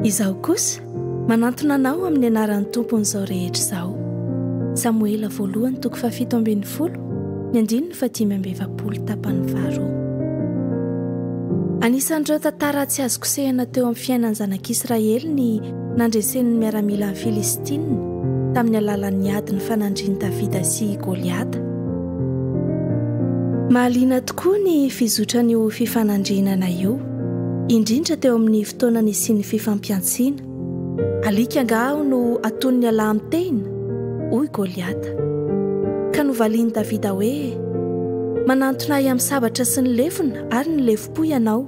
Izaho kosa manantona anao amin'ny anaran'ny tompon'izao rehetra izao. Samoela voalohany toko fahafito ambin'ny folo ny andininy fatimy amby efapolo tapany faharoa. Anisan'ireo tantara tsy azo kosehina teo amin'ny fiainan'ny zanak'Israely ny nandresen'ny miaramila ny Filistina tamin'ny alalan'ny ady nifanandrin'i Davida sy Goliata. Mahaliana tokoa ny fizotran'io fifanandrinana io, indrindra teo amin'ny fotoana nisian'ny fifampiantsiana. Alika angaha aho no aton'ny alahy mitehina? hoy Goliata. Ka novalian'i Davida hoe, Manantona ahy amin'ny sabatra sy ny lefona ary ny lefona. Hoy ianao,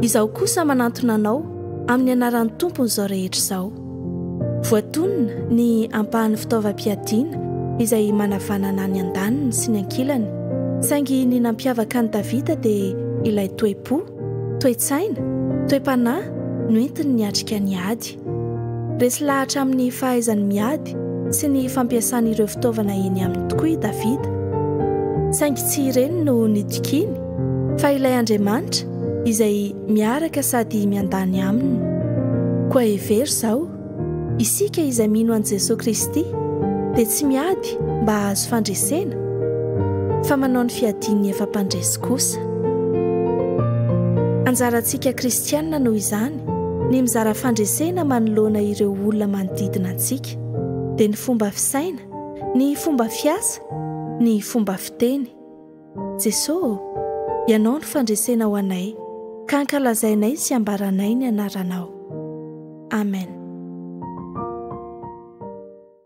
Izaho kosa manantona anao amin'ny anaran'ny tompony izao rehetra izao. Voatonona ny ampahan'ny fitaovam-piadiana izay manavanana ny andaniny sy ny ankilany, saingy ny nampiavaka an'i Davida dia ilay toe-po, toe-tsaina, toe-panahy noentiny niatrika ny ady. Resy lahatra amin'ny fahaizany miady sy ny fampiasany ireo fitaovana eny aminy tokoa i Davida. Saingy tsy ireny no nitokiany, fa ilay Andriamanitra izay miaraka sady miandany aminy. Koa hevero izao, Isika izay mino an'i Jesoa Kristy dia tsy miady mba hahazo fandresena, fa manao ny fiadian'ny efa mpandresy kosa. Anjarantsika kristiana noho izany ny mizara fandresena manoloana ireo olona manodidina antsika, dia ny fomba fisaina, ny fomba fiasa, ny fomba fiteny. Jeso ô, Ianao no fandresena ho anay, ka ankalazainay sy ambaranay ny Anaranao. Amen.